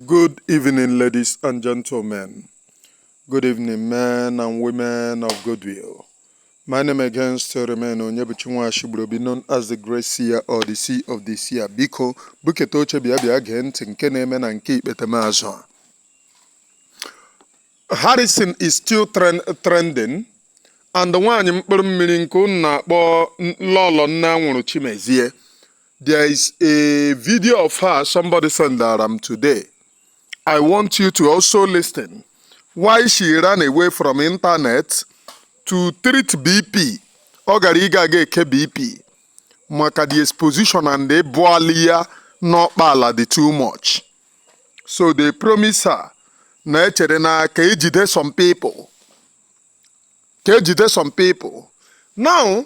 Good evening, ladies and gentlemen. Good evening, men and women of goodwill. My name again still remain Onyebuchi Nwashigburobi known as the Great Seer or the Seer of the Seer. Biko, buketa oche bịa bịa gee ntị nke na-eme na nke ikpetemazụ a. Harrison is still trend, trending and nwaanyị mkpụrụ mmiri nke unu na-akpọ Lọlọ Nne Anwụrụ Chimezie There is a video of her somebody sent um, today. I want you to also listen. Why she ran away from internet to treat BP. Ọ gara ịga aga eke BP maka the exposition and the bụali ya n'ọkpa ala dị too much. So they promise her na echere na ka ejide some people. Ka ejide some people. Now,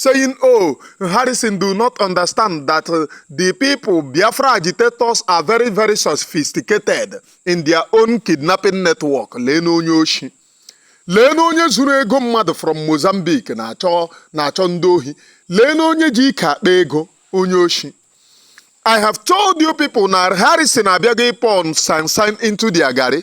saying, Oh, Harrison, do not understand that uh, the people, Biafra agitators, are very, very sophisticated in their own kidnapping network. Leenụ onye oshi. Leenụ onye zuru ego mmadụ from Mozambique na-achọ ndị ohi. Leenụ onye ji ike akpa ego onye oshi. I have told you people na Harrison abịaghị ịpour sand into their garri.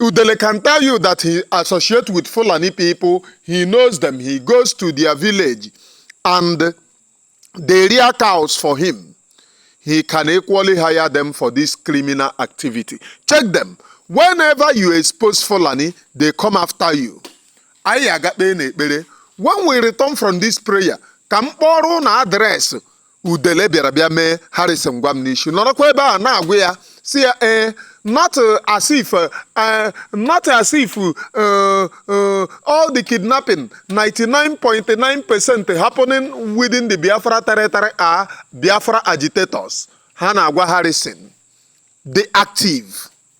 Udele can tell you that he associate with Fulani people, he knows them, he goes to their village and they rear cows for him. He can equally hire them for this criminal activity. Check them. Whenever you expose Fulani, they come after you. Anyị agakpe n'ekpere. When we return from this prayer, ka m kpọrọ ụnụ adreesị udele bịara bịa mee harrison gwamnishu nọrọkwa ebe a na-agwa ya sị ya ee not uh, as if uh, uh, not as if uh, uh, all the kidnapping 99.9 percent happening within the biafra territory are biafra agitators ha na-agwa harrison the active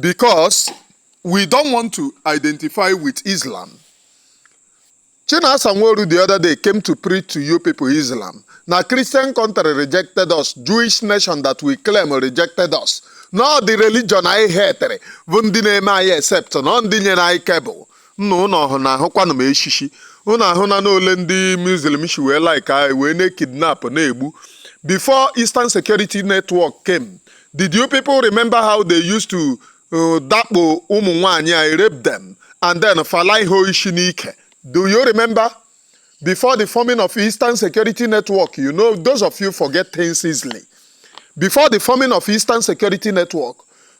because we don't want to identify with Islam. Chinasa Nworu the other day came to preach to you people Islam. Na Christian country rejected us, Jewish nation that we claim rejected us. Na ọ the religion anyị hatịrị bụ ndị na-eme anyị accept na ọ ndị nyere anyị cable nna ụnụ ahụna ahụkwanụ m shishi ụnụ ahụna n'ole ndị muslim si wee like anyị wee na-ekidnap na-egbu before eastern security network came did you people remember how they used to uh, dakpo ụmụ nwaanyị anyị rape them and then falai ha ishi n'ike do you remember before the forming of eastern security network you know those of you forget things easily before the forming of eastern security network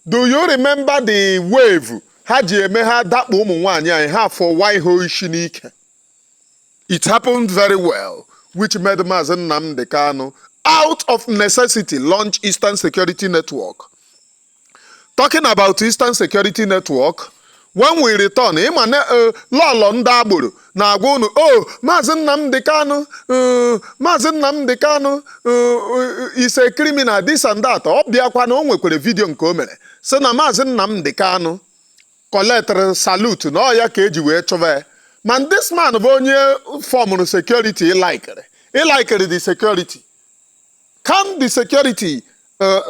do you remember the wave ha ji eme ha dakpo ụmụ nwaanyị anyị ha fọwa ihe ishi n'ike it happened very well which made Maazị Nnamdi Kanu out of necessity launch Eastern Security Network talking about Eastern Security Network when we return ị ma na eh, lọlọ ndị agboro na-agwa unu o oh, maazị Nnamdi Kanu uh, maazị Nnamdi Kanu uh, uh, is a criminal this and that ọ bịakwa na o nwekwara video nke o mere sị na maazị Nnamdi Kanu collectịrị salute na ọ ya ka eji wee chụba ya ma this man bụ onye formụrụ security ị likịrị ị likịrị the security can the security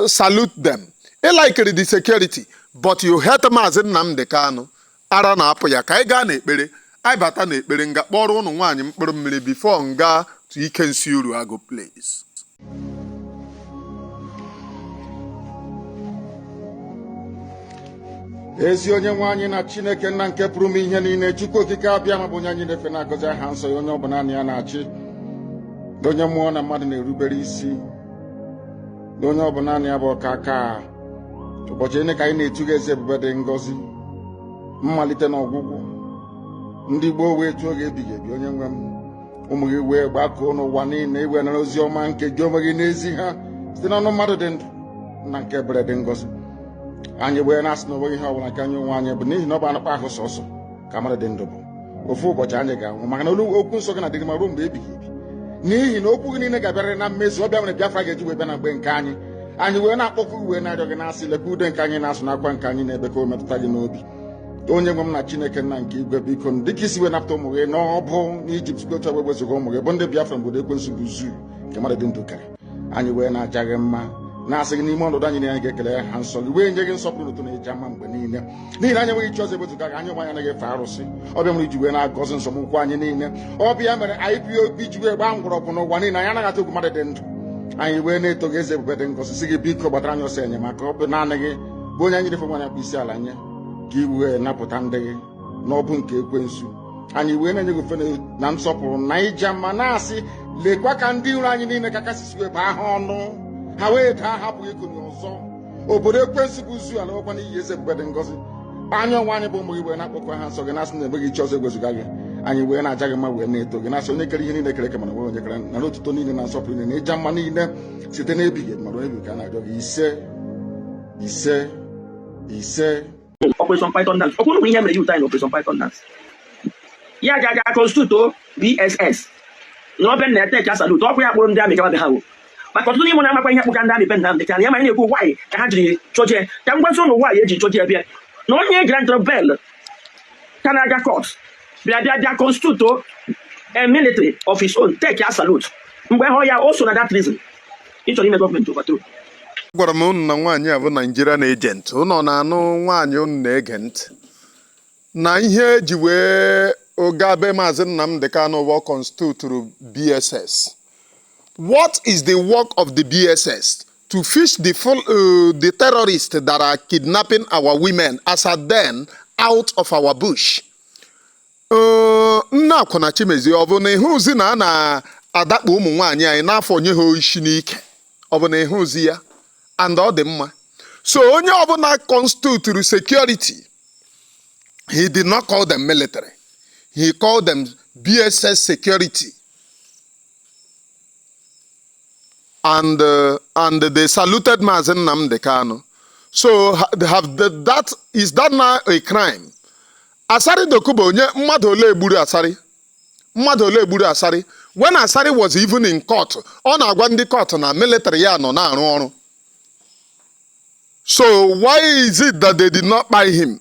salute them ị likịrị the security but you hate maazị Nnamdi Kanu ara na-apụ ya ka anyị gaa n'ekpere anyị bata n'ekpere m ga-akpọrọ ụnụ nwaanyị mkpụrụ mmiri before m gaa to ike nsị Uruagụ please ezi onye nwe anyị na chineke nna nke pụrụ ime ihe niile chukwu okike abịama bụ onye anyị na-efe na-agọzi aha nsọ ya onye ọ bụ naanị ya na-achị onye mmụọ na mmadụ na-erubere isi onye ọ bụ naanị ya bụ ọkaaka ụbọchị niile ka anyị na-etu gị eze ebube dị ngọzi mmalite na ọgwụgwụ ndị gboo wee tuo gị ebighị ebi onye nwe m ụmụ gị wee gbakọọ n'ụwa niile i wee nara ozi ọma nke gị onwe gị na-ezi ha site n'ọnụ mmadụ dị ndụ nna nke ebere dị ngọzi anyị wee na-asị na o nweghị ihe ọbụla nke anyị onwe anyị bụ n'ihi na ọ bụ anụkpa ahụ sọsọ ka mmadụ dị ndụ bụ ofu ụbọchị anyị ga-anwụ maka na olu okwu nsọ gị na-adịrị ma ruo mgbe ebighị ebi n'ihi na okwu gị niile ga-abịarịrị na mmezu ọ bụ ya mere Biafra ga-eji wee bịa na mgbe nke anyị anyị wee na-akpọku wee na-arịọ gị na-asị lekwa ude nke anyị na-asụ na akwa nke anyị na-ebe ka o metụta gị n'obi onye nwe m na chineke nna nke igwe biko dịka i si wee napụta ụmụ gị n'ọbụ n'ijipt gocha wee wezụga ụmụ gị bụ ndị biafra n'obodo ekwensu bụ zoo nke mmadụ dị ndụ kere anyị wee na-aja gị mma na-asị gị n'ime ọnọdụ anyị na anyị ga-ekele aha nsọ gị wee nye gị nsọpụrụ na otuto na ịja mma mgbe niile n'ihi na anyị enweghị chi ọzọ ewezuga gị anyị onwe anyị anaghị efe arụsị ọ bụ ya mere i ji wee na-agọzi nzọm ụkwụ anyị niile ọ bụ ya mere IPOB ji wee gbaa mgbọrọgwụ n'ụwa niile anyị anaghị atụ egwu mmadụ dị ndụ anyị wee na-eto gị eze ebube dị ngọzi sị gị biko gbatara anyị ọsọ enyemaka ọ bụ naanị gị bụ onye anyị na-efe onye anyị na-akpọ isi ala nye ka i wee napụta ndị gị n'ọbụ nke ekwensu anyị wee na-enye gị ofe na nsọpụrụ na ịja mma na-asị lekwa ka ndị iro anyị niile ka ị ga-esi wee bụọ ha ọnụ ha wee daa ha apụghị ikuni ọzọ obodo ekwensu bụ zoo alakwaa n'iyi eze ebube dị ngọzi anyị onwe anyị bụ ụmụ gị wee na-akpọku aha nsọ gị na-asị na enweghị chi ọzọ ewezụga gị anyị wee na-aja gị mma wee na-eto gị na-asị onye kere ihe niile e kere eke mana o nweghị onye kere nara otuto niile na nsọpụrụ niile na ịja mma niile site n'ebighị ebi ma ruo n'ebighị ebi ka a na-arịọ gị isee isee isee Operation Python Dance. Okwu bụ ihe mere yuta na Operation Python Dance. Ya aja aja constitute BSS. N'obe na-ete ka salute, ọkwa ya kpọrọ ndị army gaba be ha wo. maka ọtụtụ n'ime na-amakwa ihe kpụga ndị army be Nnamdi Kanu ya ma na-ekwu why ka ha jiri chọje ka m gwazi ụnụ why e ji chọje bịa na onye e grantịrị bail ka na-aga court bịa bịa bịa constitute a military of his own take ya salute mgbe hụ ya o so na that reason ị chọrọ ime gọọmenti overthrow gwara m ụnụ na nwaanyị a bụ Nigerian agent ụnụ na-anụ nwaanyị ụnụ na-ege ntị na ihe e ji wee ogabe maazị Nnamdi Kanu bụ ọ constituturu BSS What is the work of the BSS? To fish the, full, uh, the terrorists that are kidnapping our women as at then out of our bush. Uh, nna akwụna Chimezie ọ bụ na ị hụzi na a na-adakpo ụmụ nwaanyị anyị n'afọ nye ha isi n'ike ọ bụ na ị hụzi ya and ọ dị mma so onye ọbụla constituturu security he did not call them military he called them BSS security and uh, and they saluted Mazi Nnamdi Kanu. So have the, that is that now a crime? Asari Dokubo onye mmadụ ole egburu Asari? Mmadụ ole egburu Asari? When Asari was even in court, ọ na-agwa ndị court na military ya nọ na-arụ ọrụ. So why is it that they did not kpai him?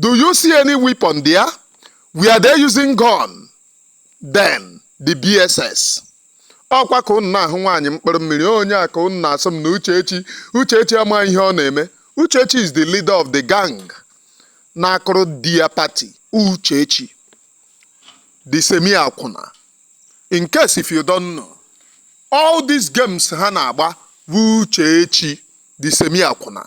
Do you see any weapon there? Were they using gun? Then the BSS. ọkwa ka ụnụ na-ahụ nwaanyị mkpụrụ mmiri onye a ka ụnụ na-asị m na Uchechi Uchechi ama ihe ọ na-eme Uchechi is the leader of the gang na-akụrụ di ya party Uchechi the semi akwụna in case if you don't know all these games ha na-agba bụ Uchechi the semi akwụna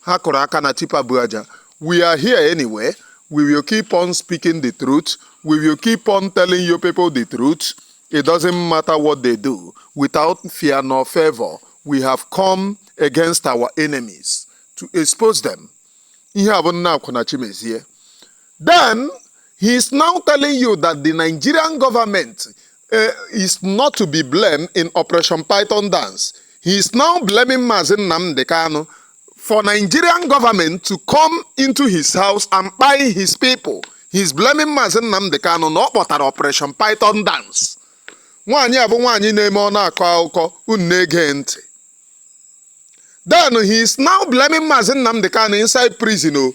ha kụrụ aka na tipa bu aja we are here anyway we will keep on speaking the truth we will keep on telling you people the truth it doesn't matter what they do without fear nor favor we have come against our enemies to expose them ihe a bụ nna akwụna chimezie then he is now telling you that the nigerian government eh, is not to be blamed in Operation Python dance. He is now blaming Mazi Nnamdi Kanu for Nigerian government to come into his house and kpai his people. He is blaming Mazi Nnamdi Kanu na ọ kpọtara Operation Python dance. Nwaanyị a bụ nwaanyị na-eme ọ na-akọ akụkọ unu na-ege ntị. Then he is now blaming Mazi Nnamdi Kanu inside prison o.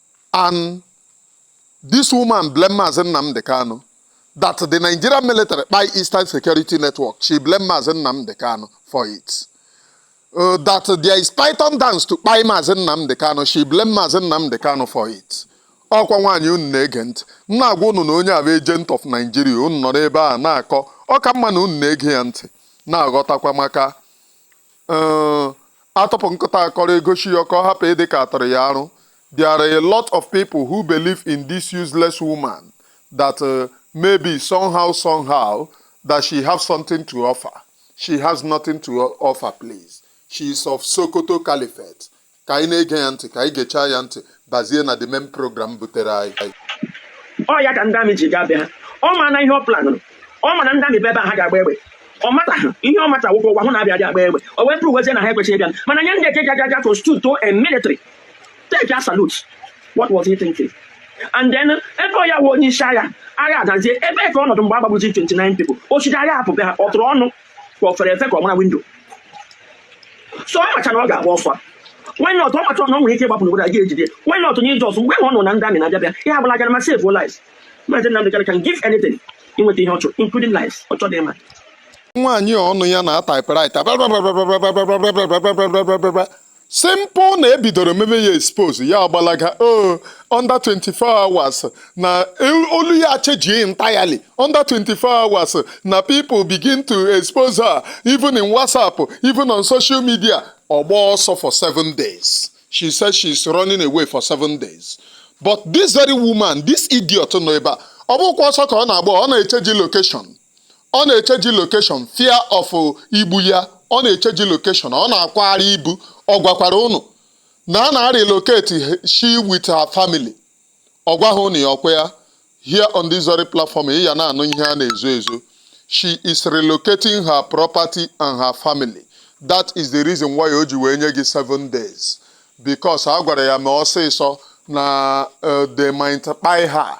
and this woman blame Mazi Nnamdi Kanu that the Nigerian military kpai Eastern Security Network, she blame Mazi Nnamdi Kanu for it. Uh, that there is python dance to kpai Mazi Nnamdi Kanu, she blame Mazi Nnamdi Kanu for it. ọkwa nwaanyị unu na-ege ntị m na-agwa unu na onye a bụ agent of Nigeria unu nọ n'ebe a na-akọ ọ ka mma na unu na-ege ya ntị na-aghọtakwa maka Uh, a tọpụ nkụta akọrọ e goshi ya ka ọ hapụ ịdị ka a tọrọ ya arụ there are a lot of people who believe in this useless woman that uh, maybe somehow somehow that she has something to offer she has nothing to offer please she is of Sokoto caliphate ka anyị na-ege ya ntị ka anyị gechaa ya ntị bazie na the main program butere anyị ọ ya ka ndị amị ji gaa be ha ọ ma na ihe ọ planụrụ ọ ma na ndị amị bịa ebe a ha ga-agba egbe ọ mataghị ihe ọ mata wụkwụ ụgwa hụ na abịa abịa agba egbe o wee pụrụ wezie na ha ekwechighị bịa mana nye ndị eke gaga aga constitute to a military take a salute what was he thinking and then ebe ọ ya wụ onye isi agha agha adazie ebee ka ọ nọdụ mgbe a gbagburu 29 people o shiri aghaa hapụ be ha ọ tụrụ ọnụ ka ọ fere efe ka ọ mara window so ọ macha na ọ ga-agba ọsọ why not ọ macha na ọ nwere ike ịgbapụ n'obodo a ga-ejide why not nye just mgbe ọ nụ na ndị amị na-abịa bịa ihe ọ bụla gara ma save your life maazị Nnamdi Kanu can give anything inweta ihe ọ chọrọ including life ọ chọrọ ịma nwaanyị a ọnụ ya na typewriter Simple na e bidoro mebe ya expose ya agbalaga o under 24 hours na olu ya chejie entirely under 24 hours na people begin to expose her even in WhatsApp even on social media ọ gbaa ọsọ for seven days she says she is running away for seven days but this very woman this idiot nọ ebe a ọ bụkwa ọsọ ka ọ na-agba ọ na-echeji location ọ na-echeji location fear of igbu ya ọ na-echeji location ọ na-akwagharị ibu ọ gwakwara ụnụ na ọ na-arelocate she with her family ọ gwaghị ụnụ ya o kwu ya here on this very platform ị ya na-anụ ihe a na-ezo ezo she is relocating her property and her family that is the reason why o ji wee nye gị seven days because a gwara ya mee ọsịsọ na uh, they might kpai her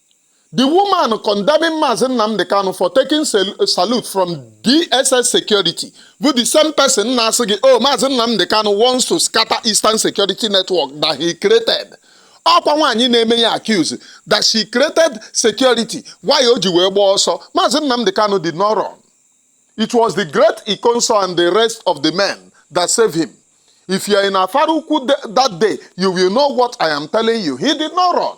The woman condemning Mazi Nnamdi Kanu for taking salute from DSS security bụ the same person na-asị gị oh Mazi Nnamdi Kanu wants to scatter Eastern security network that he created. ọkwa nwaanyị na-eme ya accuse that she created security why o ji wee gbaa ọsọ Mazi Nnamdi Kanu did not run. It was the great Ikonso and the rest of the men that saved him. If you are in Afarukwu that day, you will know what I am telling you. He did not run.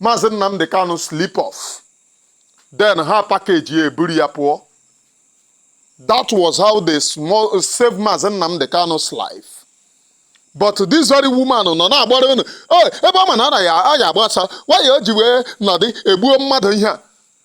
Maazị Nnamdi Kanu sleep off then ha pakeji ya eburu ya pụọ that was how they save Maazị Nnamdi Kanu's life but this very woman nọ na-agbara unu ebe ọ ma na aya agbasa why o ji wee nọdị e gbuo mmadụ ihe a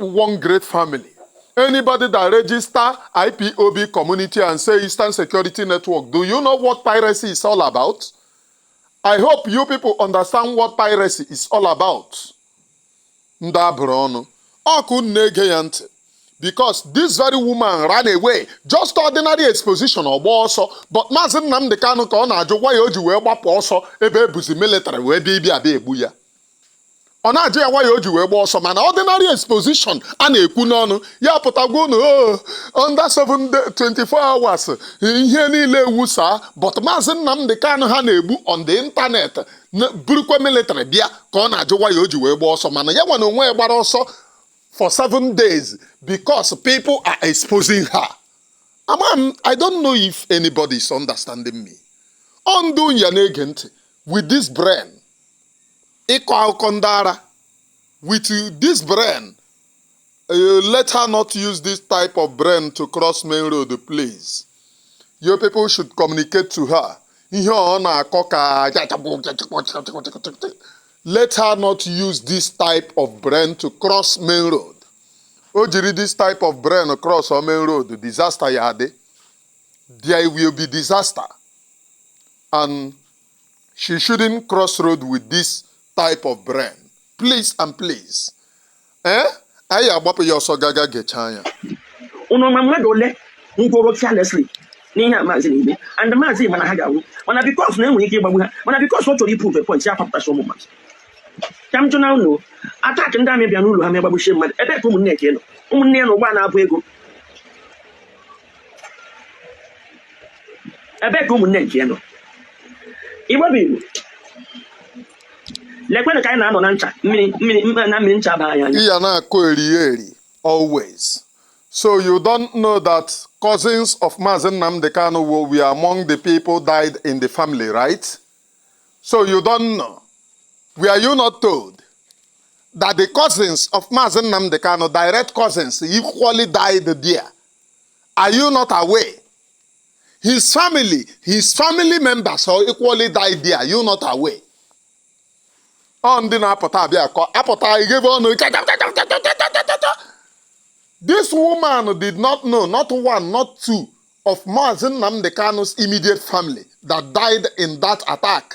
one great family. Anybody that register IPOB community and say Eastern Security Network, do you know what piracy is all about? I hope you people understand what piracy is all about. Ndị a bụrụ ọnụ. Ọkwa unu na-ege ya ntị. Because this very woman ran away. Just ordinary exposition ọ gbaa ọsọ. But Maazị Nnamdị Kanụ ka ọ na-ajụ why o ji wee gbapụ ọsọ ebe e buzi military wee bịa ịbịa egbu ya. ọ na-ajụ ya why o ji wee gba ọsọ mana ordinary exposition a na-ekwu n'ọnụ ya pụtagwa unu "Oh, under 7 day- 24 hours ihe niile ewusaa but maazị Nnamdị Kanụ ha na-egbu on the internet burukwa military bịa ka ọ na-ajụ why o ji wee gba ọsọ mana ya nwere onwe ya gbara ọsọ for seven days because people are exposing her. I don't know if anybody is understanding me. Ọ ndị ya na-ege ntị with this brain ịkọ akụkọ ndị ara with this brain uh, let her not use this type of brain to cross main road please your people should communicate to her ihe ọ na-akọ ka let her not use this type of brain to cross main road o jiri this type of brain cross our main road disaster ya adị there will be disaster and She shouldn't cross road with this type of brain. Please and please. Eh? Anyị agbapụ ya ọsọ gaga gechaa ya. Unu ma mmadụ ole nwụrụ carelessly n'ihe a maazị na-eme and maazị ma na ha ga-anwụ mana because na e nwere ike ịgbagbu ha mana because ọ chọrọ iprove a point ya papụtasị ụmụ mmadụ ka m jụna unu attack ndị army bịa n'ụlọ ha ma gbagbuchie mmadụ ebe ka ụmụnne nke nọ ụmụnne ya na ụgbọ na-ebu ego ebe ka ụmụnne nke nọ Igbo bụ Igbo lekwenụ ka anyị na-anọ na ncha mmiri mmiri na mmiri ncha baa anyị anya ị ya na-akọ eri eri always so you don't know that cousins of Mazi Nnamdi Kanu were among the people died in the family right so you don't know were you not told that the cousins of Mazi Nnamdi Kanu direct cousins equally died there Are you not aware? His family, his family members are equally died there. Are you not aware? Ọ ndị na-apụta abịa akọ apụta ighebe ọnụ This woman did not know, not one, not two, of Mazi Nnamdi Kanu's immediate family that died in that attack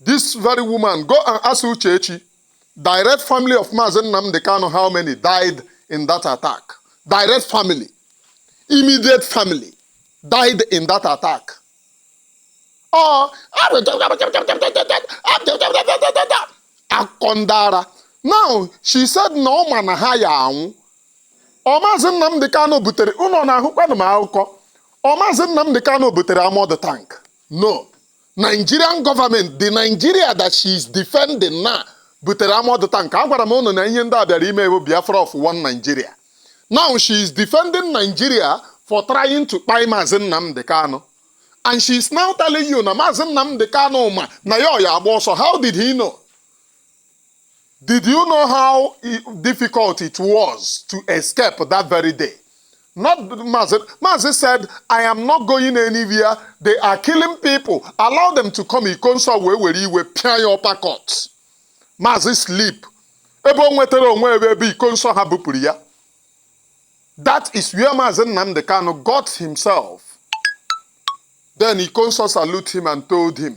This very woman, go and ask Uchechi, direct family of Mazi Nnamdi Kanu, how many died in that attack? Direct family, immediate family died in that attack. Oh, akọndara. Now, she said na ọ ma na ha ya anwụ. Ọ Mazi Nnamdi Kanu butere, unu na-ahụkwanụ m akụkọ. Ọ Mazi Nnamdi Kanu butere armoured tank. No. Nigerian government, the Nigeria that she is defending now butere armoured tank. Agwara m unu na ihe ndị a bịara ime wụ Biafra of one Nigeria. Now she is defending Nigeria for trying to kpai Maazị Nnamdi Kanu. And she is now telling you na Maazị Nnamdi Kanu ma na ya ya agba ọsọ. How did he know? Did you know how difficult it was to escape that very day? Not Mazi. Mazi said, I am not going anywhere. They are killing people. Allow them to come. Ikonso ewere iwe pịa ya uppercut. Mazi sleep. Ebe o nwetara onwe ebe ebe Ikonso ha bupụrụ ya. That is where Mazi Nnamdi Kanu got himself. Then Ikonso salute him and told him,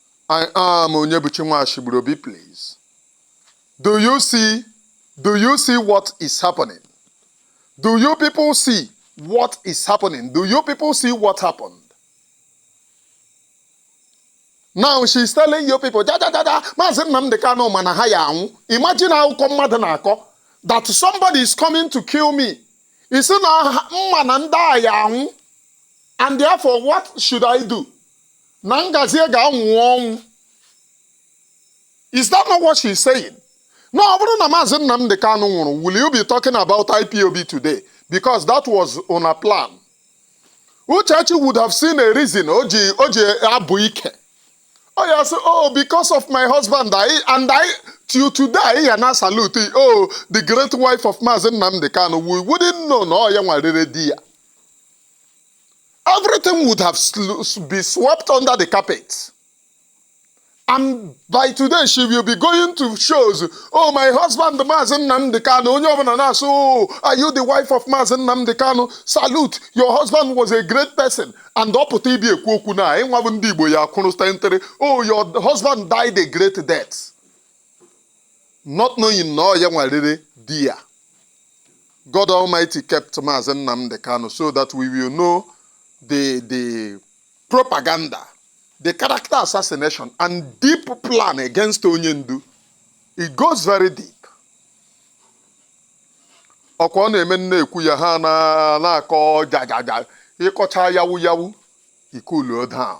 I am Onyebuchi Nwashigburobi, please. Do you see, do you see what is happening? Do you people see what is happening? Do you people see what happened? Now she's telling you people, ja ja ja ja, Maazị Nnamdi Kanu ma na ha ya anwụ. Imagine akụkọ mmadụ na-akọ that somebody is coming to kill me. I sị na m ma na ndị a ya anwụ and therefore what should I do? na m gazie ga-anwụ ọnwụ is that not what she is saying na ọ bụrụ na maazị Nnamdi Kanu nwụrụ will you be talking about IPOB today because that was una plan Uchechi would have seen a reason o ji o ji abụ ike ọ ya-asị oh because of my husband I, and I till today anyị ya na-asalute, oh the great wife of maazị Nnamdi Kanu we wouldn't know na ọ ya nwa rere di ya everything would have sl- be swept under the carpet. And by today, she will be going to shows. Oh, my husband, Maazị Nnamdi Kanu. Onye ọbụla na-asị, oh, are you the wife of Maazị Nnamdi Kanu? Salute, your husband was a great person. And ọ pụta ibi ekwu okwu anyị nwa bụ ndị Igbo ya-akwụrụ stentere. Oh, your husband died a great death. not knowing na ọ ya nwa rere di ya. God Almighty kept Maazị Nnamdi Kanu so that we will know the, the propaganda, the character assassination and deep plan against onye ndu. It goes very deep. ọkwa ọ na-eme m na-ekwu ya ha na- na-akọ jajaja ị kọcha yawu yawu i cooluo down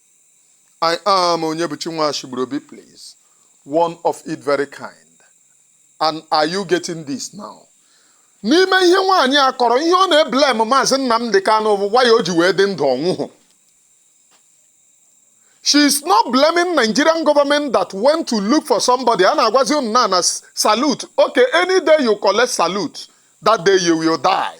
I am Onyebuchi Nwashigburobi, please. One of it very kind. And are you getting this now? N'ime ihe nwaanyị a kọrọ ihe ọ na-eblame maazị Nnamdi Kanu bụ why o ji wee dị ndụ ọ nwụhụ. She is not blaming Nigerian government that went to look for somebody. A na-agwazi unu na-ana salute. Okay, any day you collect salute, that day you will die.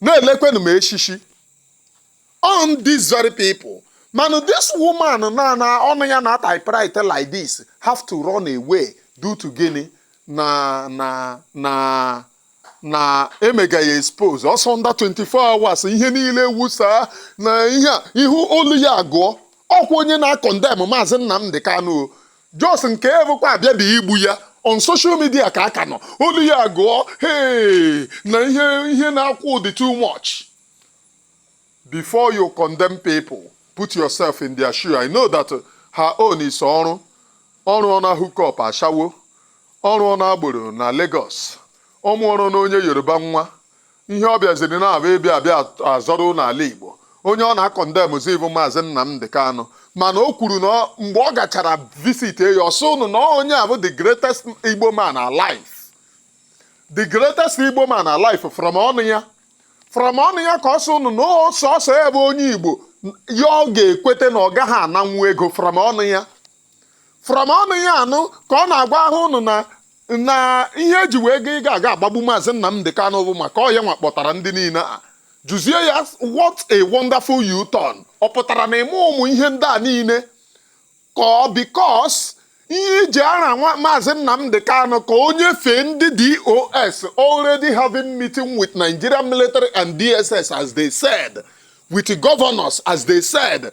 na-elekwenụ m eshishi on these very people mana this woman na na ọnụ ya na typewriter like this have to run away due to gịnị na na na na e mega ya expose ọsọ under 24 hours ihe niile wụsa na ihe a ihu olu ya agụọ ọkwa onye na-acondemn maazị Nnamdi Kanu Just nke evụkwa abịabeghị igbu ya on social media ka a ka nọ olu ya agụọ hey na ihe ihe na-akwụ dị too much before you condemn people put yourself in their shoe I know that her own is ọrụ ọ rụọ na hook up ashawo ọ rụọ na agboro na Lagos ọ mụọrọ na onye Yoruba nwa ihe ọ bịaziri na-abụ ịbịa abịa azọrọ ụnụ ala Igbo onye ọ na-acondemnzi bụ maazị Nnamdi Kanu mana o kwuru na mgbe ọ gachara visit ya ọ sị ụnụ na onye a bụ the greatest Igbo man alive the greatest Igbo man alive from ọnụ ya from ọnụ ya ka ọ sị ụnụ na ọ sọ ya bụ onye Igbo ya ọ ga-ekweta na ọ gaghị ananwu ego from ọnụ ya from ọnụ ya anụ ka ọ na-agwa ahụ ụnụ na na ihe e ji wee ga ịga aga agbagbu maazị Nnamdi Kanu bụ maka ọ ya nwa kpọtara ndị niile a jụzie ya what a wonderful U-turn ọ pụtara na ime ụmụ ihe ndị a niile ka ọ because ihe iji ara maazị Nnamdi Kanu ka o nyefee ndị DOS already having meeting with Nigerian military and DSS as they said with governors as they said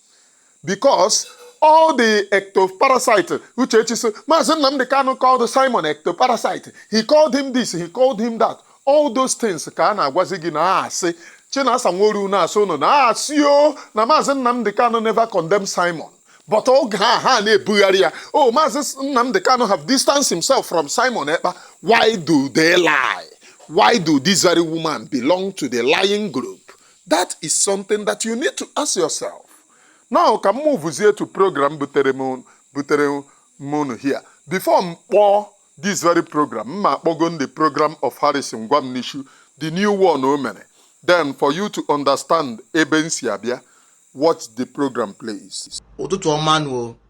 because all the ectoparasite Uchechi sị Maazị Nnamdi Kanu called Simon ectoparasite he called him this he called him that all those things ka a na-agwazi gị na asị Chinasa Nworu na-asị ụnụ na asị o na Maazị Nnamdi Kanu never condemn Simon but oge a ha na-ebugharị ya oh Maazị Nnamdi Kanu have distanced himself from Simon Ekpa why do they lie why do this very woman belong to the lying group that is something that you need to ask yourself now ka m movezie to program butere mụ na unu here before m kpọọ this very program m ma akpọgo the program of Harrison Gwamnishu the new one o mere then for you to understand ebe m si abịa watch the program please ụtụtụ ọma nụ o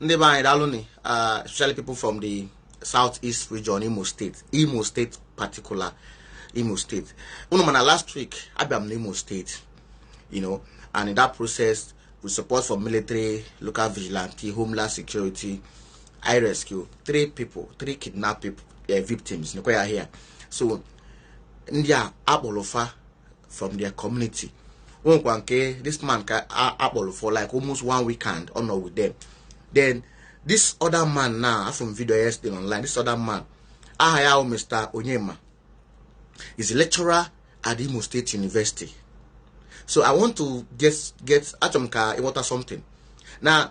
ndị be anyị daalụ ni uh, especially people from the south east region imo state imo state particular imo state unu mana last week abịa m na imo state you know and in that process with support from military local vigilante homeland security i rescue three people three kidnapped people, uh, victims nekwa ya here so ndị a akpọrọ fa from their community nwekwa nke this man a kpọlụ for like almost one week and ọ nọ with them then this other man now afụrụ m video yesterday online this other man aha ya bụ Mr. Onyema is a lecturer at Imo State University so I want to get achọrọ m ka ị ghọta something na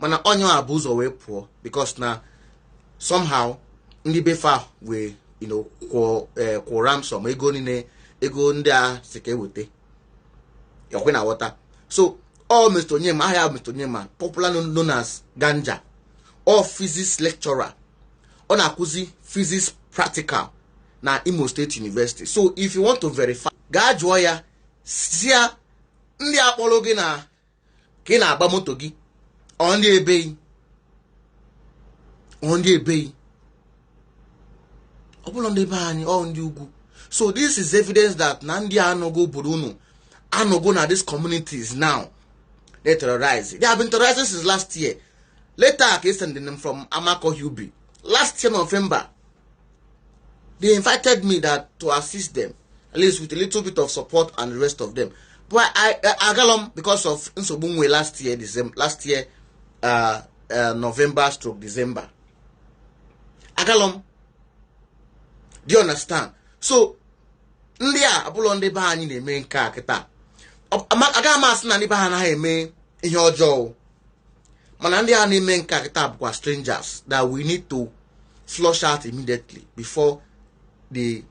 mana onye a bu ụzọ wee pụọ because na somehow ndị be fa wee you know, kwụọ eh, kwụọ ransom ego niile ego ndị a sị ka e weta ọ kwa ị na-aghọta so ọ Mr. Onyema aha ya Mr. Onyema popular known as Ganja ọ physics lecturer ọ na-akụzi physics practical na Imo State University so if you want to verify gaa jụọ ya sị ya ndị a kpọlụ gị na ka ị na-agba moto gị ọ ndị ebee ọ ndị ebee ọ bụrọ ndị be anyị ọ ndị ugwu so this is evidence that na ndị a anọgo obodo unu anọgo na these communities now they terrorize they have been terrorizing since last year letter a ka e sendili m from Amakohia Ubi last year November they invited me that to assist them at least with a little bit of support and the rest of them but I agalọ m because of nsogbu nwe last year December last year uh, uh, November stroke December agalọ m do you understand so ndị a abụlọ ndị be anyị na-eme nke a kịta agaghị m asị na ndị be anyị anaghị eme ihe ọjọọ mana ndị a na-eme nke a kịta bụkwa strangers that we need to flush out immediately before they,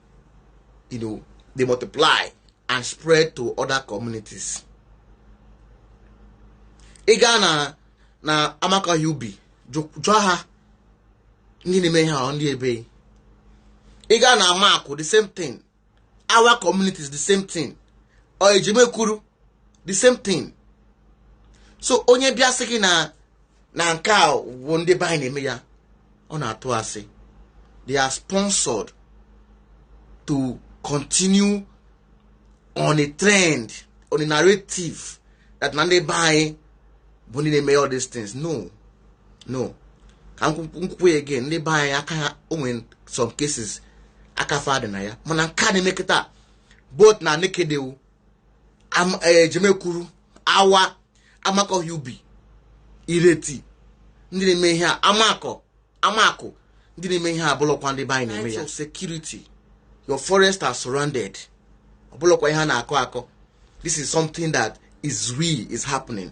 you know, they multiply and spread to other communities. ị gaa na na Amakọhịa Ubi jụọ ha ndị na-eme ihe ahụ ndị ebee ị gaa na Amakụ the same thing Awa community is the same thing or Ejemekwuru the same thing so onye bịa sị gị na na nke a wụ ndị be anyị na-eme ya ọ na-atụ asị they are sponsored to continue on a trend on a narrative that na ndị be anyị bụ ndị na-eme all these things no no ka m kwukwaa ya again ndị be anyị aka ha o nwe some cases aka fa dị na ya mana nke a na-eme kịta both na nekedewu Ejemekwuru eh, Awa Amakọhịa Ubi Irete ndị na-eme ihe a amakọ amakụ ndị na-eme ihe a abụlọkwa ndị be anyị na-eme ya security your forest are surrounded ọ bụlọkwa ihe a na-akọ akọ this is something that is real is happening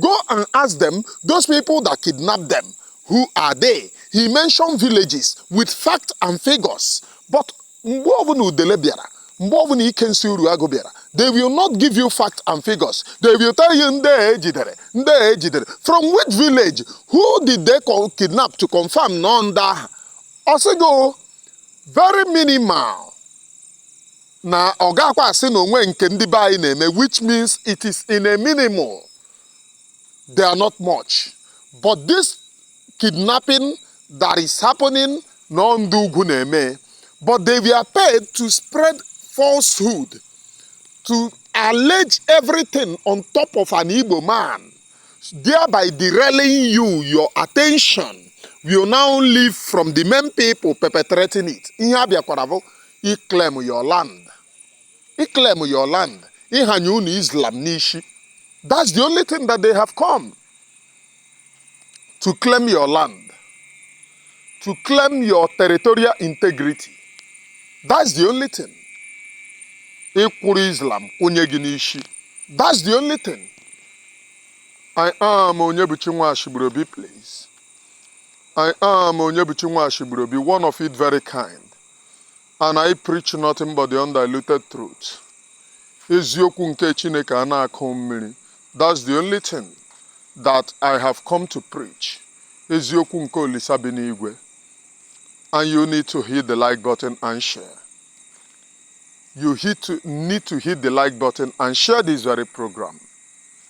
Go and ask them, those people that kidnapped them, who are they? He mentioned villages with fact and figures. But mgbe ọbụla udele bịara, mgbe ọbụla Ikensi Uruagụ bịara, they will not give you fact and figures. They will tell you ndị a e jidere, ndị a e jidere. From which village? Who did they kidnap to confirm na ọ ndị ahụ? Ọ sị gị very minimal na ọ gakwa asị na o nwe nke ndị be anyị na-eme which means it is in a minimal they are not much but this kidnapping that is happening na ọ ndị ugwu na-eme but they were paid to spread falsehood to allege everything on top of an Igbo man thereby derailing you your attention will now leave from the main people perpetrating it ihe a bịakwara bụ Iclaim your land. Iclaim your land. Ịhanye unu Islam n'isi. That's the only thing that they have come to claim your land, to claim your territorial integrity. That's the only thing. Ịkwụrụ Islam kwụnye gị n'isi. That's the only thing. I am Onyebuchi Nwashigburobi, please. I am Onyebuchi Nwashigburobi, one of it very kind. and I preach nothing but the undiluted truth eziokwu nke Chineke a na-akụ mmiri that's the only thing that I have come to preach eziokwu nke Olisa bi n'igwe and you need to hit the like button and share you hit to, need to hit the like button and share this very program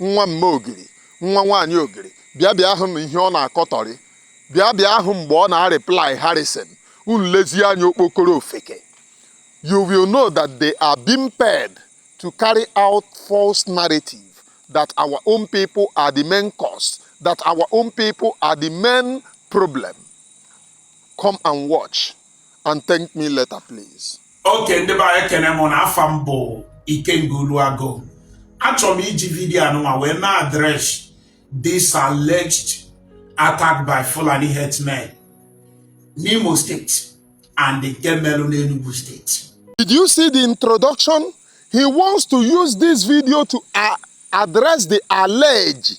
nwa mme ogiri nwa nwaanyị ogiri bịa bịa hụ ihe ọ na-akọtọrị bịa bịa hụ mgbe ọ na-areply Harrison unu lezie anya okpokoro ofeke you will know that they are being paid to carry out false narrative that our own people are the main cause that our own people are the main problem come and watch and thank me later please. okay ndị be anyị ekene m ụnụ afa m bụ Ikenga Uruagu achọrọ m iji video anụnwa wee me address this alleged attack by Fulani herdsmen n'Imo State and nke melụ n'Enugu State Did you see the introduction? He wants to use this video to uh, address the alleged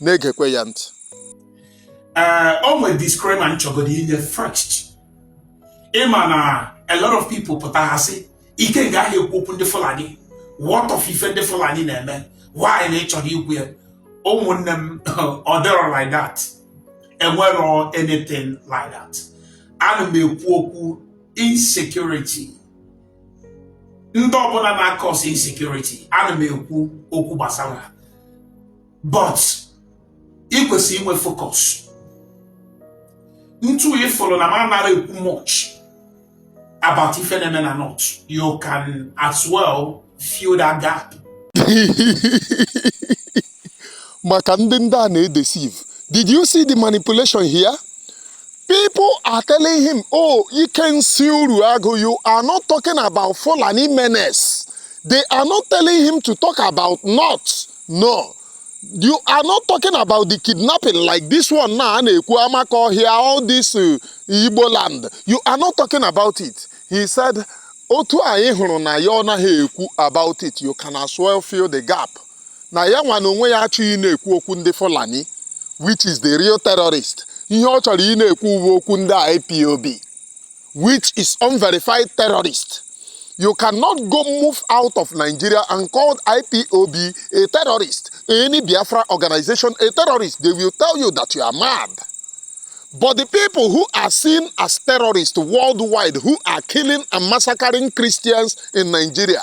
na-egekwa ya ntị ee o nwere disclaimer m chọgodu inye first ịma na a lot of people pụta ha sị Ikenga ahụ ekwu okwu ndị Fulani what of ife ndị Fulani na-eme why na ị chọrọ ikwu ya ụmụnne m ọ dịrọ like that enwerọ anything like that ana m ekwu okwu insecurity ndị ọbụna na-acause insecurity ana m ekwu okwu gbasara ha but ị kwesịrị inwe focus ntu ị fụrụ na m anara ekwu much about ife na-eme na north you can as well fill that gap maka ndị ndị a na-edeceive did you see the manipulation here people are telling him oh Ikensi Uruagu you are not talking about Fulani menace they are not telling him to talk about north no you are not talking about the kidnapping like this one now na-ekwu Amakọhịa all this uh, igbo land you are not talking about it he said otu anyị hụrụ na ya ọ naghị ekwu about it you can as well fill the gap na ya nwa na onwe ya achọghị ịna-ekwu okwu ndị Fulani which is the real terrorist ihe ọ chọrọ ịna-ekwu bụ okwu ndị IPOB which is unverified terrorist you cannot go move out of Nigeria and call IPOB a terrorist any Biafra organization a terrorist they will tell you that you are mad But the people who are seen as terrorists worldwide, who are killing and massacring Christians in Nigeria,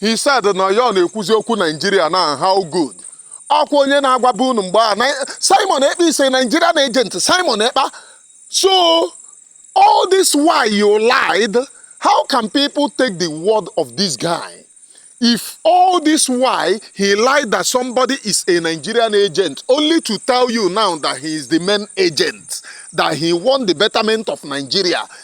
He said na ya ọ na-ekwuzi okwu Nigeria na how good ọkwa onye na-agwaba unu mgbe a na- Simon Ekpa is a Nigerian agent Simon Ekpa so all this why you lied how can people take the word of this guy if all this why he lied that somebody is a Nigerian agent only to tell you now that he is the main agent that he won the betterment of Nigeria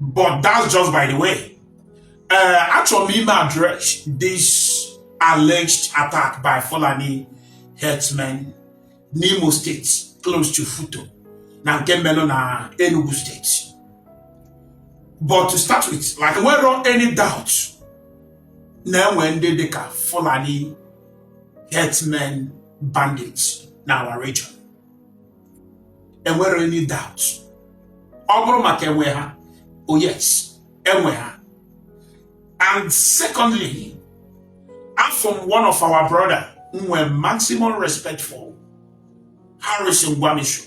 but that's just by the way uh, achọrọ m ime address this alleged attack by Fulani herdsmen n'Imo State close to FUTO na nke melụ na Enugu State but to start with like enwerọ any doubt na enwe ndị dịka Fulani herdsmen bandits na our region enwerọ any doubt ọ bụrụ maka enwe ha oh yes enwe ha and secondly afụ m one of our brother m nwe maximum respect for Harrison Gwamnishu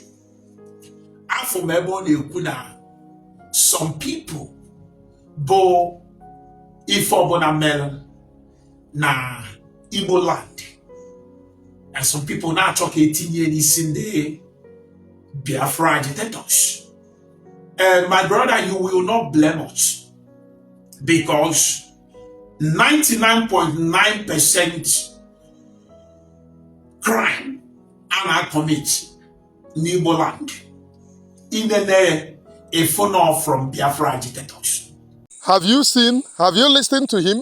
afụ m ebe ọ na-ekwu na some people bụ ife ọbụna melụ na Igbo land and some people na-achọ ka etinye n'isi ndị Biafra agitators and my brother you will not blame us because 99.9 percent crime a na-commit n'Igbo land inene a phone from Biafra agitators. Have you seen, have you listened to him?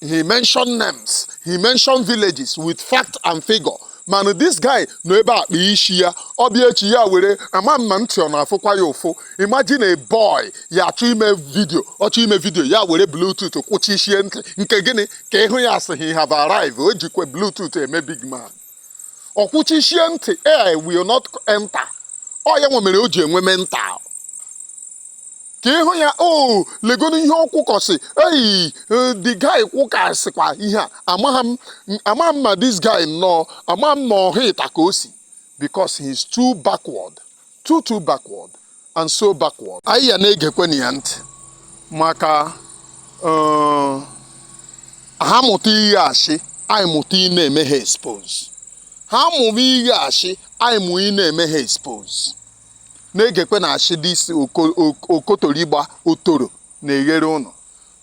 he mentioned names he mentioned villages with fact and figure mana this guy nọ ebe a kpee isi ya ọ bịa echi ya were ama mma ntị ọ na-afụkwa ya ụfụ imagine a boy ya achọ ime vidio ọ chọ ime vidio ya were bluetooth kwuchisie ntị nke gịnị ka ị hụ ya asị he have arrived o jikwa bluetooth eme big man o kwuchisie ntị air will not enter ọ ya nwa mere o ji enwe mental ka ị hụ ya o oh, legonu ihe o kwukọsị eyi eh, the guy kwukasịkwa ihe a amaghị m amaghị m ma this guy nnọọ amaghị m ma ọhịa ịta ka o si because he is too backward too too backward and so backward anyị ya na-egekwenụ ya ntị maka eh, ha mụta ihe asị anyị mụta ị na-eme ha expose ha mụrụ ihe asị anyị mụ ị na-eme ha expose na-egekwe na asị dị isi oko- ok- okotorigba otoro na-eghere ụnụ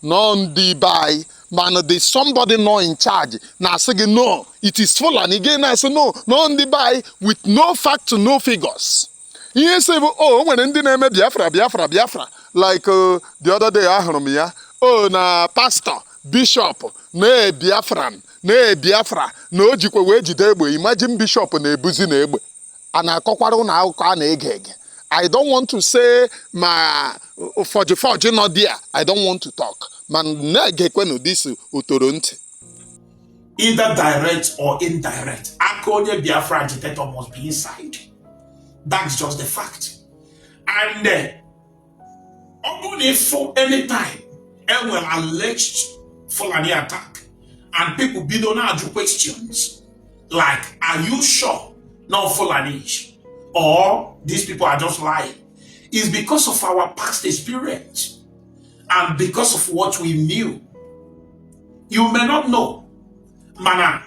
n'ọ ndị be anyị mana the somebody nọ in charge na-asị gị no it is Fulani gị na-asị no n'ọ ndị be anyị with no fact no figures ihe si bụ o oh, nwere ndị na-eme Biafra Biafra Biafra like uh, the other day ahụrụ m ya o oh, na pastọ bishọp na Biafran na Biafra na o jikwa wee jide egbe imagine bishọp na-ebuzi na egbe a na-akọkwara ụnụ akụkọ a na-ege ege I don't want to say ma forge forge nọ there I don't want to talk ma na-egekwenụ this otoro ntị either direct or indirect aka onye Biafra agitator must be inside that's just the fact and uh, ọ bụrụ na ị fụ anytime e nwere alleged Fulani attack and people bido na-ajụ questions like are you sure n'ọ Fulani or these people are just lying is because of our past experience and because of what we knew you may not know mana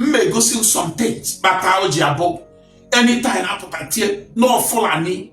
m egosi some things kpata o ji abụ anytime a pụta tie n'ọ Fulani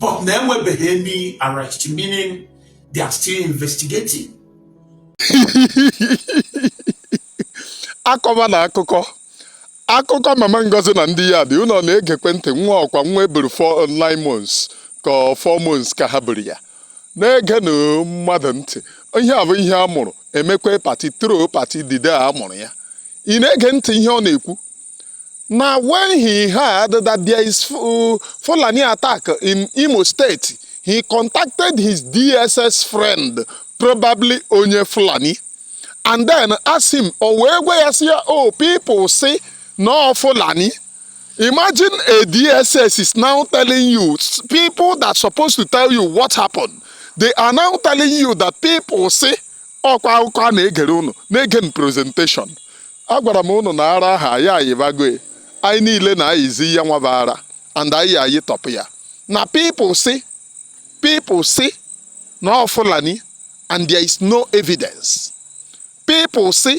but na enwebeghị any arrest meaning they are still investigating akọba na akụkọ akụkọ mama Ngozi na ndị ya dị ụlọ na-egekwe ntị nwa ọkwa nwa e buru 9 months ka 4 months ka ha buru ya na-ege na mmadụ ntị ihe a bụ ihe a mụrụ emekwe pati tro pati dide a mụrụ ya ị na-ege ntị ihe ọ na-ekwu na when he heard that there is uh, Fulani attack in Imo State he contacted his DSS friend probably onye Fulani and then asked him o wee gwa ya sị ya o oh, people sị n'ọ Fulani Imagine a DSS is now telling you, people that supposed to tell you what happened, they are now telling you that people say, ọkwa akụkọ a na-egere unu na-ege m presentation agwara m unu na ara a ha ya ayibago anyị niile na-ayizi ya nwa bụ ara and anyị ayitọpụ ya na people say people say na ọ Fulani and there is no evidence people say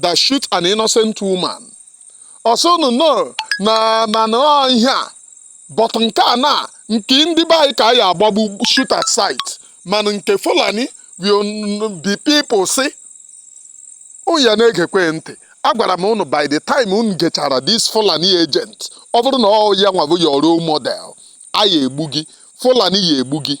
that shoot an innocent woman ọ sị unu no na mana ọ ihe a but nke a na nke ndị be anyị ka a ya agbagbu shoot at sight mana nke fulani will n- be people say unu ya na-egekwe ntị agwara m unu by the time unu gechara this fulani agent ọ bụrụ na ọ ya nwa bụ your role model a ya egbu gị fulani ya egbu gị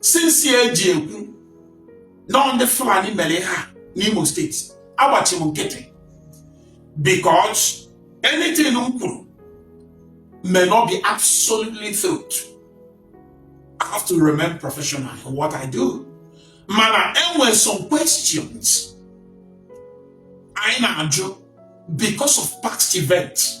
since e ji ekwu na ọ ndị Fulani mere ha n'Imo steeti agbachi m nkịtị because anything m kwuru may not be absolutely truth I have to remain professional in what I do mana enwere some questions anyị na-ajụ because of past events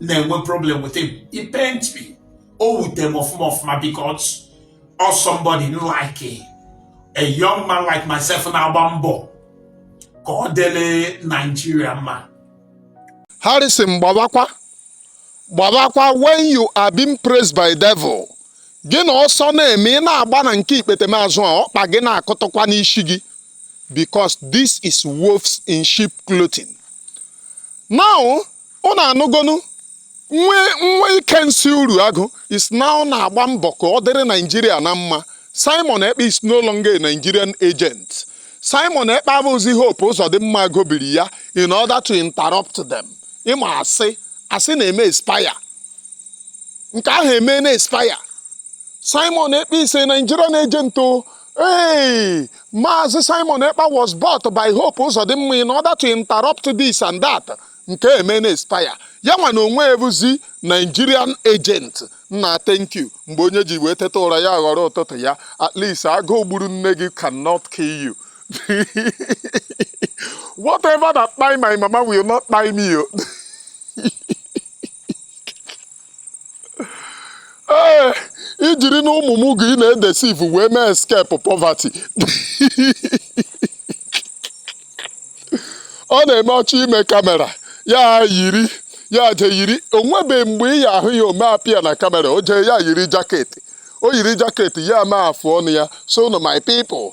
na-enwe problem with him he pain me o wute m ọfụma ọfụma because ọ somebody like a, a young man like myself na-agba mbọ ka ọ dịrị Nigeria mma Harrison gbabakwa gbabakwa when you are being praised by devil gị na ọsọ na-eme ị na-agba na nke ikpete m azụ a ọkpa gị na-akụtụkwa n'isi gị because this is wolves in sheep clothing now unu anụgonu nwa Ikensị Uruagụ is now na-agba mbọ ka ọ dịrị naijiria na mma Simon Ekpa is no longer a nigerian agent Simon Ekpa abụzi Hope Uzodinma gobiri ya in order to interrupt them ị ma asị asị na-eme expire nke ahụ emena expire Simon Ekpa is a nigerian agent o Hey, Maazị Simon Ekpa was bought by Hope Uzodinma in order to interrupt this and that nke emena expire ya nwa na onwe ya bụzi Nigerian agent nna thank you mgbe onye ji wee teta ụra ya ghọrọ ụtụtụ ya at least agụụ gburu nne gị cannot kill you whatever that kpai my mama will not kpai me o ee i jiri na ụmụ mugu ị na-edeceive wee mee escape poverty ọ na-eme ọchị ime camera ya yiri ya je yiri o nwebe mgbe ị ya ahụ ya o mee appear na camera o jee ya yiri jacket o yiri jacket ya mee afụ ọnụ ya so now my people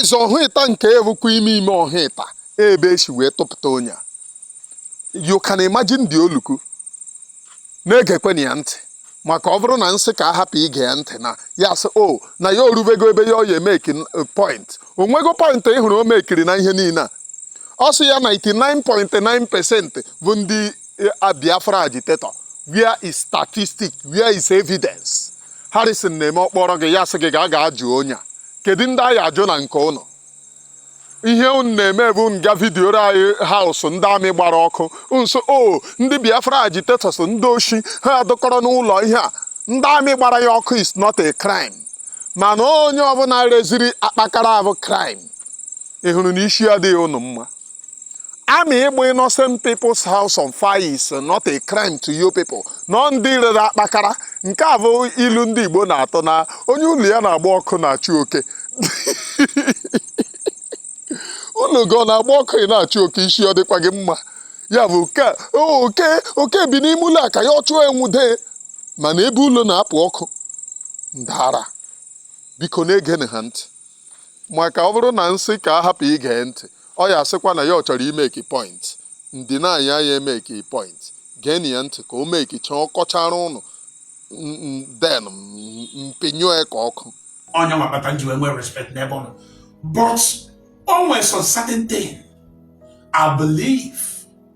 eze ọhụịta nke a bụkwa ime ime ọhụịta ebe e si wee tụpụta onye a you can imagine the oluku na-egekweni ya ntị maka ọ bụrụ na m sị ka a hapụ ige ya ntị na ya sị o oh, na ya orubego ebe ya oye meki eh, point o nwego point ị hụrụ o mekiri na ihe niile a ọ sị ya 99.9 percent bụ ndị a Biafra agitator where is statistic where is evidence Harrison na-eme ọkpọrọ gị ya sị gị ga ga ajụ onye a kedu ndị a ya-ajụ na nke ụnụ ihe unu na-eme bụ ịga video any house ndị army gbara ọkụ nso o ndị Biafra agitators ndị oshi ha adọkọrọ n'ụlọ ihe a ndị army gbara ya ọkụ is not a crime mana onye ọbụla reziri akpakara abụ crime ị hụrụ na isi adịghị ụnụ mma army ịgba innocent people's house on fire is not a crime to you people nọ ndị rere akpakara nke a bụ ilu ndị Igbo na-atụ na onye ụlọ ya na-agba ọkụ anaghị achụ oke ụlọ gị ọ na-agba ọkụ ị na-achụ oke isi ọ dịkwa gị mma ya bụ oke bi n'ime ụlọ a ka ya ọ chụọ enwude mana ebe ụlọ na-apụ ọkụ ndị ara biko na-egenụ ha ntị maka ọ bụrụ na m sị ka a hapụ ige ntị ọ ya asịkwa na ya ọ chọrọ imeki point ndị na anyị anya emeki point geenụ ya ntị ka o mekicha ọ kọchara ụnụ then m pịnyụọ ya ka ọkụ onye nwabata m ji wee nwee respect n'ebe ọ nọ but o nwere some certain thing I believe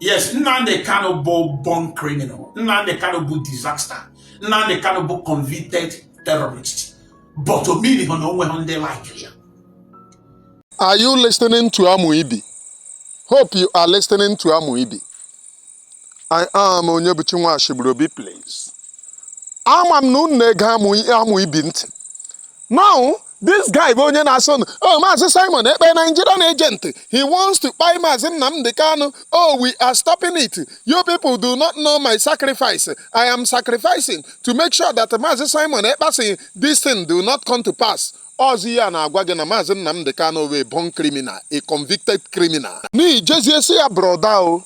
yes Nnamdi Kanu bụ born criminal Nnamdi Kanu bụ disaster Nnamdi Kanu bụ convicted terrorist but omiri ha na onwe ha ndị like ya Are you listening to Amuibi? Hope you are listening to Amuibi. I am Onyebuchi Nwashiburu Obi, please. Ama m na unu na-ege Amuibi ntị. Now, this guy bụ onye na-asị nụ oh maazị Simon Ekpa Nigerian agent he wants to kpai maazị Nnamdi Kanu oh we are stopping it you people do not know my sacrifice I am sacrificing to make sure that maazị Simon Ekpa's this thing do not come to pass ọ zi ya na-agwa gị na maazị Nnamdi Kanu bụ a born criminal a convicted criminal na ị jezie sị ya brother o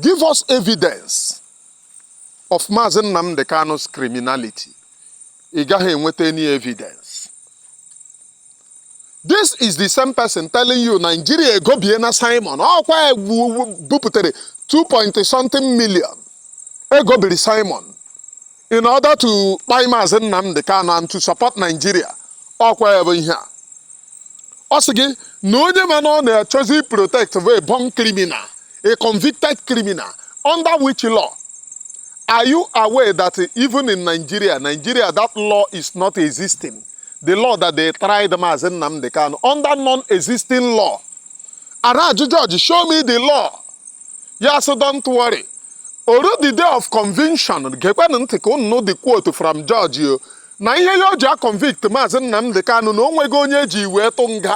give us evidence of Maazị Nnamdi Kanu's criminality, ị gaghị enweta any evidence. This is the same person telling you Nigeria egobiena Simon ọkwa e bupụtara 2 point something million e gobiri Simon in order to kpai Maazị Nnamdi Kanu and to support Nigeria ọkwa ya bụ ihe a ọ sị gị na onye ma na ọ na-achọzi protect bụ a born criminal a convicted criminal under which law are you aware that even in nigeria nigeria that law is not existing the law that they tried Mazi Nnamdi Kanu under non-existing law a na-ajụ judge show me the law ya sị don't worry o ruo the day of conviction gekwenụ ntị ka unu nụ the quote from judge o na ihe ya o ji a-convict maazị Nnamdi Kanu na o nweghị onye e ji wee tụ nga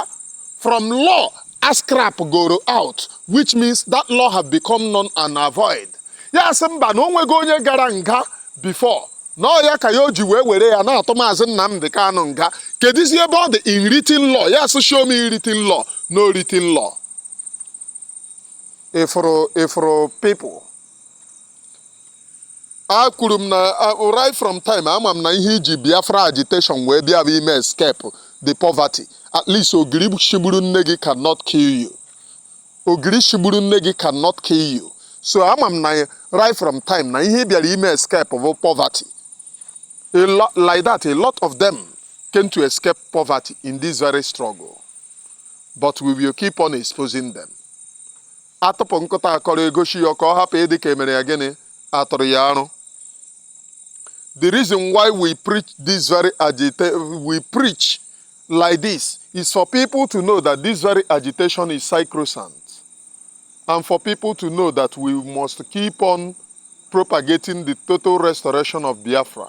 from law a scrap goro out which means that law have become null and void ya sị mba na o nweghị onye gara nga before na ọ ya ka ya o ji wee were ya na-atụ maazị Nnamdi Kanu nga kedizi ebe ọ dị in written law ya sị show me in written law no written law ị fụrụ ị fụrụ people a kwuru m na ah, right from time ama m na ihe i ji biafra agitation wee bịa bụ ime escape the poverty at least ogiri shigburu nne gị cannot kill you ogiri shigburu nne gị cannot kill you so ama m na right from time na ihe ị bịara ime escape bụ poverty like that a lot of them came to escape poverty in this very struggle but we will keep on exposing them a tụpụ nkụta akọrọ e gosi ya ka ọ hapụ ịdị ka e mere ya gịnị a tụrụ ya arụ the reason why we preach this very agita we preach like this is for people to know that this very agitation is sacrosanct and for people to know that we must keep on propagating the total restoration of Biafra.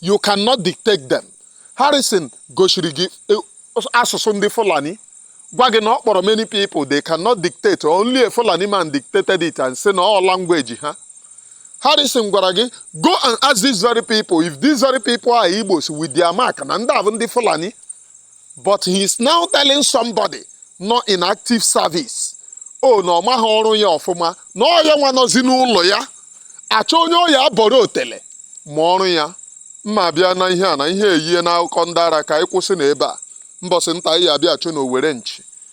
you cannot dictate them Harrison gosiri gị e, asụsụ ndị Fulani gwa gị na ọ kpọrọ many people they cannot dictate only a Fulani man dictated it and say na ọ language ha Harrison gwara gị go and ask these very people if these very people are Igbos with their mark na ndị a bụ ndị Fulani but he is now telling somebody nọ in active service o na ọ maghị ọrụ ya ọfụma na ọ ya nwa nọzi n'ụlọ ya achọ onye ọ ya-abọrọ otele ma ọrụ ya mma bịa na ihe a na ihe eyiena akụkọ ndị ara ka anyị kwụsị na ebe a mbọsị nta anyị abịa achụ na owere nchi